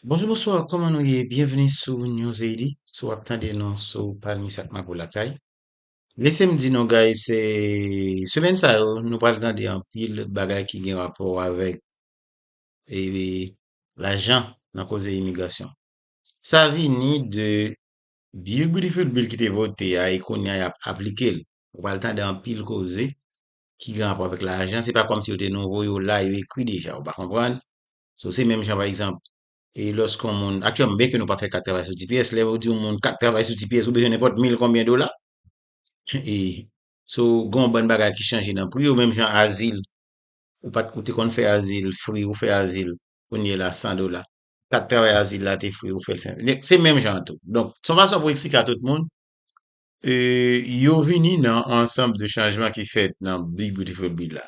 Bonjou bonswa kòman nou ye byenvni sou newzadi si w ap tande nou sou palmis ak mapou lakay lese m di nou guys se semèn sa yo nou pral tande anpil bagay ki gen rapò avèk e lajan nan koze imigrasyon sa vini de bill bill ki te vote a e kounya y ap aplike l ou pral tande anpil koze ki gen rapò avèk lajan, se pa kòmsi yo te nouvo, yo la, yo ekri deja, ou pa konprann? So, se menm jan, pa egzanp, e lòske yon moun, aktyèlman, byenke nou pa fè kat travay sou tps, lè yo di yon moun kat travay sou tps, ou bezwen nenpòt mil konbyen dola? E, so, gen yon bann bagay ki chanje nan pri yo, menm jan azil, ou pa t, ou te konn fè azil fri, ou fè azil, kounyela, san dola. Kat travay azil la te fri, ou fè l san, se menm jan an tou. Donk, se yon fason pou eksplike a tout moun, E yo vini nan ansanm de chanjman ki fèt nan Big Beautiful Bill la.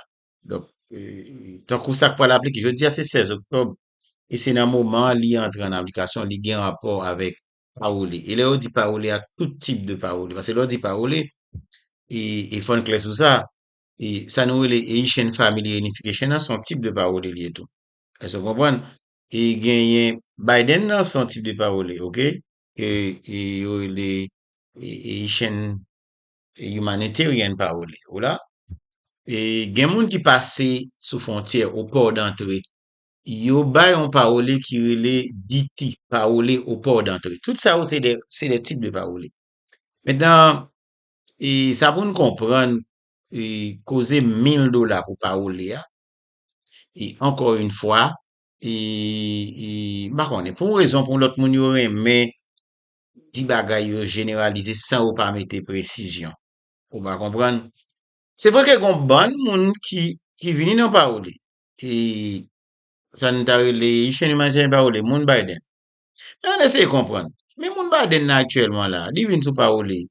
Donk, tankou sa k pral aplike, jodi a se 16 oktòb, e se nan moman li antre an aplikasyon, li gen rapò avèk pawole. E lè yo di pawole a, tout tip de pawole. Pase lè w di pawole, e fò n klè sou sa, e sa nou rele Haitian Family Reunification an se yon tip de pawole li ye tou. Èske w konprann? E genyen Biden nan se yon tip de pawole, ok. ke yo rele Haitian Humanitarian pa rele yo la, e gen moun ki pase sou fwontyè o pò dantre, yo bay yon pawole ki rele DT, pawole o pò dantre. Tout sa yo se de tip de pawole. Mentnan, e sa pou n konprann e koze mil dola pou pawole a, e ankò yon fwa, m pa konnen, pou yon rezon ou pou yon lòt moun yo renmen di bagay yo jeneralize san yo pa mete presizyon. Ou va konprann. Se vre ke gen yon bann moun ki vini nan pawoli. Sa nou ta rele Chen li manje pawoli, moun Biden. Men ann eseye konprann. Men moun Biden nan aktyèlman la, li vin sou pawoli.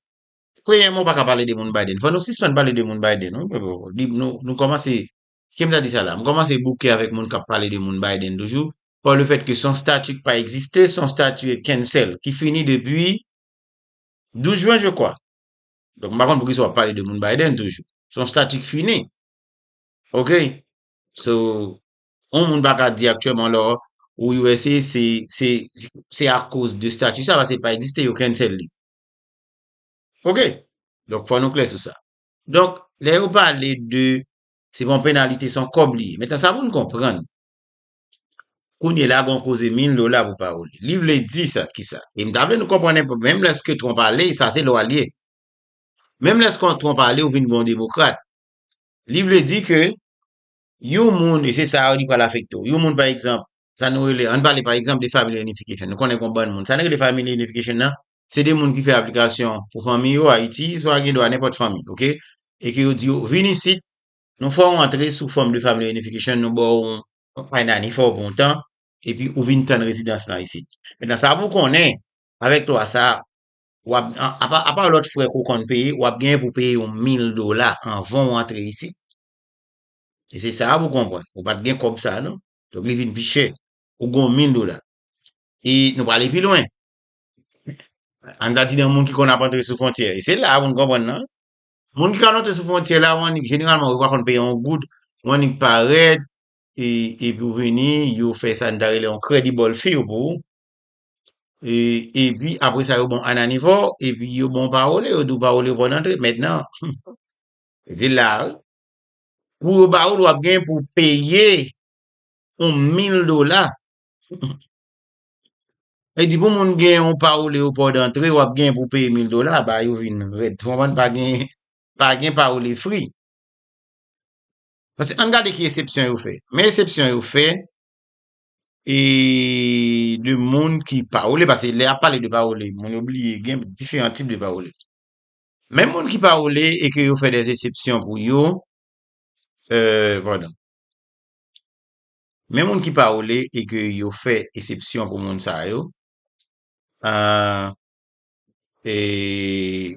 Premyèman ou pa ka pale de moun Biden. Fò nou sispann pale de moun Biden. Nou kòmanse Kite m ta di sa la, m kòmanse bouke avèk moun k ap pale de moun Biden toujou, pa le fèt ke se yon stati k pa egziste, se yon stati cancel, ki fini depi 12 jwen je kwa. Donk m pa konn pou ki sa w ap pale de moun Biden toujou. Se yon stati k fini. Ok. So, yon moun pa ka di aktyèlman la ou usa se, se, se akoz de stati sa, paske li pa egziste, yo cancel li. Ok. Donk fò nou klè sou sa. Donk, lè yo pale de Se pa yon penalite, se yon kòb li ye. Mentnan sa pou n konprann, kounye la gen yon koze mil dola pou Paoli. Li vle di sa ki sa? E m ta vle nou konprann enpe, menm lèske Trump ale, sa se lwa l ye. Menm lèske Trump ale ou vin gen yon demokrat, li vle di ke yon moun, e se sa a li pral afekte w, yon moun pa egzanp, sa nou rele, an n pale pa egzanp de Family Reunification, nou konnen gen yon bann moun, sa nou rele Family Reunification nan, se de moun ki fè aplikasyon pou fanmi yo Ayiti, swa gen dwa nenpòt fanmi, ok, e ke yo di yo, vin isit, nou fè w antre sou Form de Family Reunification, nou ba w yon I-9, fè w pou yon tan, epi ou vin tann rezidans lan isit. Mentnan, sa pou w konnen, avèk lwa sa a, w ap, apa lòt frè ke w konn peye, w ap genyen pou w peye yon 1000 dola anvan w antre isit. E se sa a pou w konprann. Ou pa t gen kòb sa a non. Donk li vin pi chè. Ou gen yon 1000 dola. E nou prale pi lwen. Ann ta di nan moun ki konn ap antre sou fwontyè. E se la pou n konprann nan. Moun ki konn antre sou fwontyè la, ou annik jeneralman yo pa konn peye yon goud, ou annik parèt, e epi ou vini, yo fè sa n ta rele yon credible fee pou ou. E epi apre sa yo ba w anani fò, epi yo ba w pawole, yo di w pawole ou pa w antre. Mentnan, se la a wi. Pou yo ba ou l, w ap gen pou w peye yon mil dola. E di pou moun gen yon parole ou port d'entrée wap gen pou peye 1000 dola ba yo vin red ou konprann pa gen pa gen parole free Pase ann gade ki esepsyon yo fè men esepsyon yo fè e de moun ki parole pase lè ap pale de parole moun yo bliye gen diferan tip de parole men moun ki parole e ke yo fè des esepsyon pou yo e pardon Men moun ki pawole e ke yo fè esepsyon pou moun sa yo, aah, eee,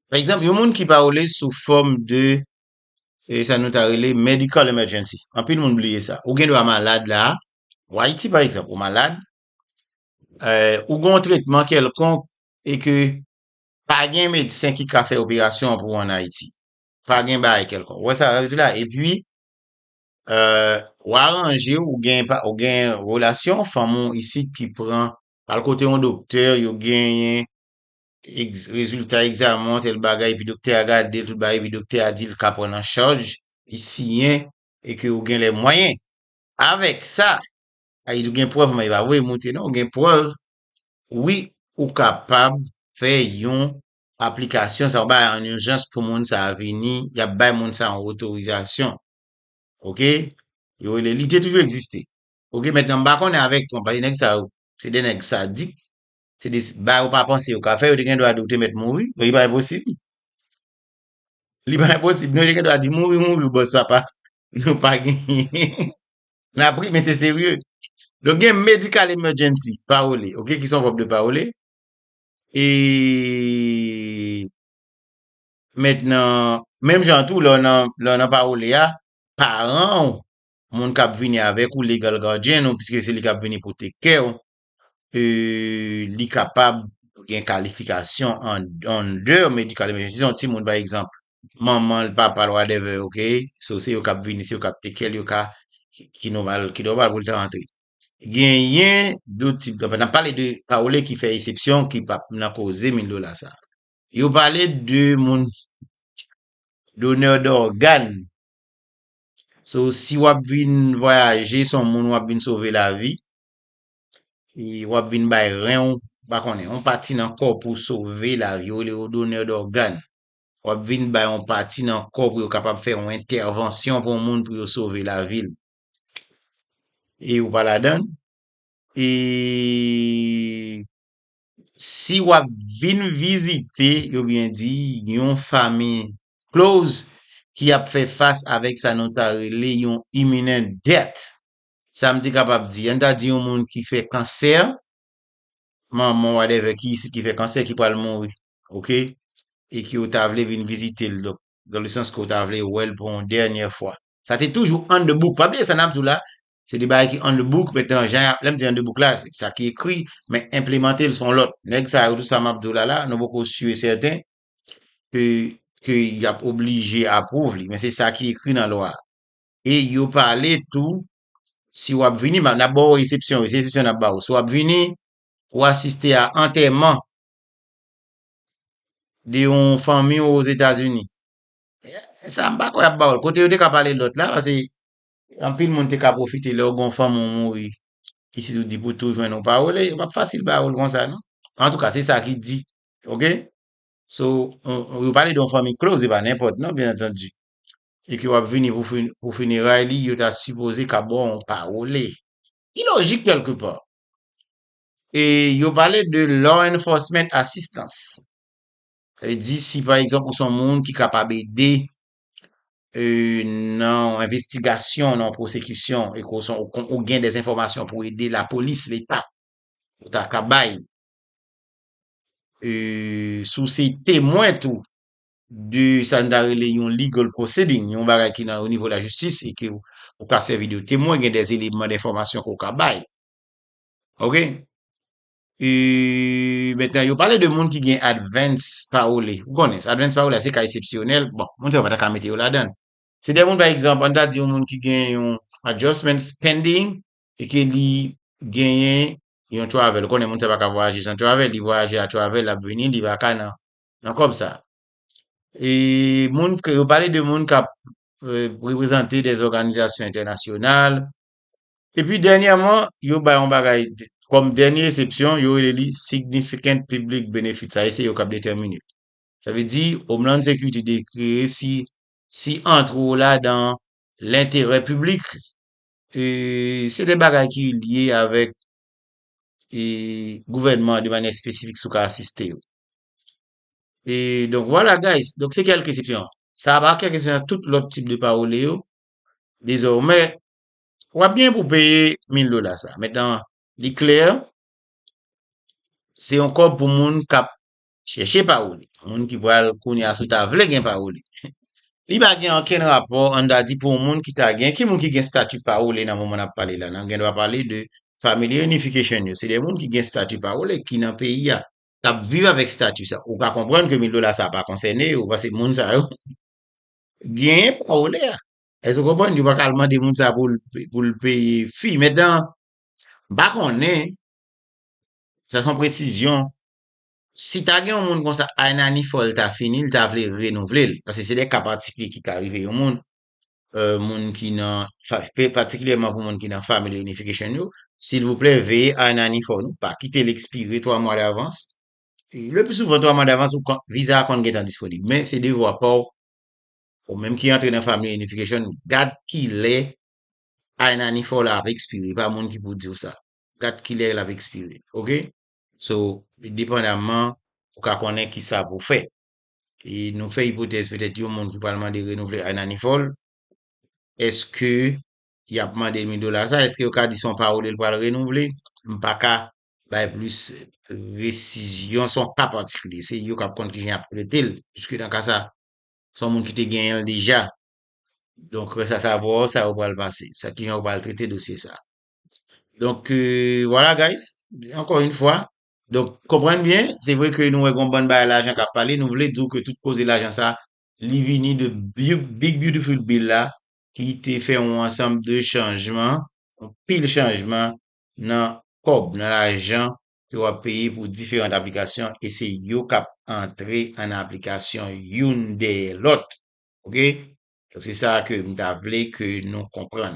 pa egzanp, yon moun ki pawole sou fòm de, e sa nou ta rele medical emergency, anpil moun bliye sa, ou gendwa malad la, ou Ayiti pa egzanp, ou malad, eeh, ou gen yon tretman kèlkonk e ke pa gen medsen ki ka fè operasyon an pou ou an Ayiti. pa gen bagay kèlkonk. Ou wè sa sa vle di la? Epi, ou aranje w, ou gen relasyon, fanm ou isit ki pran, al kote yon doktè, yo genyen rezilta egzamen an, tèl bagay, epi doktè a gade l, tout bagay, epi doktè a di l ka pran an chaj, li siyen, e ke ou gen lè mwayen. Avèk sa, a li di ou gen prèv, men li pa voye moute non, ou gen prèv, wi, ou kapab fè yon aplikasyon sa yo bay an urjans pou moun sa a vini, y ap bay moun sa a yon otorizasyon. Ok, yo rele, li te toujou egziste. Ok, mentnan m pa konnen avèk Trump, paske nèg sa yo, se 2 nèg sadik, se 2 bagay yo pa panse yo ka fè, yo te gen dwa di ou te mèt mouri, li pa enposib, li pa enposib, yo te gen dwa di mouri mouri bòs papa, nou pa genyen, n ap ri men se serye. Donk gen medical emergency, parole, ok, ki se yon vèb de parole, E mentnan, menm jan an tou lè w nan pawole a, paran w, moun k ap vini avèk ou, legal guardian ou, piske se li k ap vini pote kè w, li kapab gen kalifikasyon under medical emergency, si se yon timoun pa egzanp, manman l, papa l, whatever, ok, so se yo k ap vini, se yo k ap take kè l, yo ka, ki nòmal, ki nòmal pou l ta rantre. genyen 2 tip dòme. N ap pale de pawole ki fè esepsyon ki pa nan koze 1000 dola sa. Yo pale de moun donè dògàn. So si w ap vin vwayaje se yon moun w ap vin sove lavi, w ap vin bay ren w, m pa konnen, yon pati nan kò w pou w sove lavi, yo rele yo donè dògàn. W ap vin bay yon pati nan kò w pou yo kapab fè yon entèvansyon pou yon moun pou yo sove lavi l. e ou pa ladan l e si w ap vin vizite yo byen di yon fami close ki ap fè fas avèk sa nou ta rele yon imminent death sa m te kapab di an n ta di yon moun ki fè kansè manman w whatever ki isit ki fè kansè ki pral mouri ok e ki ou ta vle vin vizite l Dans le sens ke ou ta vle wè l pou yon dènyè fwa. Sa te toujou on the book. Pa bliye sa n ap di w la, se de bagay ki on the book, men tan jan y ap, lè m di on the book la, se sa ki ekri, men enplemante l se yon lòt. Nèg sa yo, tout sa m ap di w la la, nou poko si e sèten ke, ke y ap oblije apwouv li, men se sa ki ekri nan lwa a. E yo pale tou, si w ap vini, m ap, n ap ba w esepsyon yo, se esepsyon n ap ba w. Si w ap vini pou asiste a antèman, de yon fanmi ou ozetazini sa m pa kwè y ap ba w l kote yo te ka pale lòt la pase anpil moun te ka pwofite lè w gen yon fanmi w mouri pitit ou di pou tou jwenn ou pa w l e yo p ap fasil ba w l konsa non antouka se sa ki di ok so yo pale de yon fanmi klòz e pa nenpòt non byen antandi e ke w ap vini pou fineray li yo ta sipoze ka ba w yon pawole ki lojik kèlke pa E yo pale de law enforcement assistance. Sa vle di si pa egzanp ou son moun ki kapab ede nan envestigasyon, nan pwosekisyon e ke w son ou gen dè enfòmasyon pou ede lapolis, leta, ou ta ka bay. E si w se temwen tou de sa nou ta rele yon legal proceeding, yon bagay ki nan onivo lajistis e ke ou ka sèvi de temwen, gen dè eleman dènfòmasyon ke w ka bay. Ok E Mètnen yo pale de moun ki gen advance parole Ou konnen sa Advance parole a se ka esepsyonèl Bon Moun sa yo pa ta ka mete yo ladan Se de moun pa egzanp An ta di yon moun ki gen yon Adjustment pending E ke li genyen Yon travel Ou konnen moun sa pa ka vwayaje san travel Li vwayaje a travel L ap vini Li pa ka nan Nan kòb sa E moun ke yo pale de moun k ap Reprezante dèzòganizasyon entènasyonal Epi dènyèman, yo bay yon bagay kòm dènye esepsyon, yo rele li Significant Public Benefit. Sa e se yo k ap detèmine l. Sa vle di Homeland Security deklare si si antre w ladan lenterè piblik, e se de bagay ki lye avèk e gouvènman an de manyè espesifik si w ka asiste yo. E donk vwala guys, donk se kèlke esepsyon. Sa a pa kèlke esepsyon nan tout lòt tip de parole yo, Dezòmè, w ap gen pou peye 1000 dola sa a. Metan, li klè, se yon kòb pou moun k ap chèche pawoli, moun ki pral kounye a si w ta vle gen pawoli. Li pa gen okenn rapò, an ta di, pou yon moun ki ta gen, ki moun ki gen stati pawoli nan moman n ap pale la? Nan gen dwa pale de Family Reunification yo, se de moun ki gen stati pawoli, ki nan peyi a, k ap viv avèk stati sa a. Ou ka konprann ke 1000 dola sa a pa konsène yo, paske moun sa yo, Genyen pawole a. Èske ou konprann? Yo pa ka al mande moun sa pou l peye fi. Mentnan, m pa konnen, sa se yon presizyon, si ta gen yon moun konsa, Ayinani fò l ta fini, l ta vle renouvle l. Paske se de ka patikilye ki ka rive yon moun, moun ki nan, patikilyèman pou moun ki nan Family Reunification yo, silvouplè veye Ayinani fò nou pa kite l ekspire twa mwa davans Le plus souvent 3 mwa davans ou kon viza a konn gentan disponib men se devwa pa w ou menm ki antre nan Family Unification gad kilè I-9 ou la ap ekspire pa moun ki pou di w sa gad kilè l ap ekspire ok so depandaman ou ka konnen kisa pou w fè e nou fè ipotèz petèt yon moun ki pral mande renouvle I-9 ou l èske y ap mande l 1000 dola sa èske yo ka di se yon parole l pral renouvle m pa ka bay plis presizyon, se yon ka patikilye, se yo k ap konn ki jan y ap trete l, piske nan ka sa a, se yon moun ki te genyen l deja, donk rès a savwa yo, sa yo pral pase, sa ki jan yo pral trete dosye sa a. Donk, vwala guys, ankò yon fwa, donk konprann byen, se vre ke nou wè gen yon bann bagay lajan k ap pale, nou vle di w ke tout koze lajan sa a, li vini de Big Beautiful Bill la, ki te fè yon ansanm de chanjman, yon pil chanjman nan kòb, nan lajan ke wap peye pou diferant aplikasyon e se yo kap antre an aplikasyon youn dèyè lòt ok se sa ke m ta vle ke nou konprann.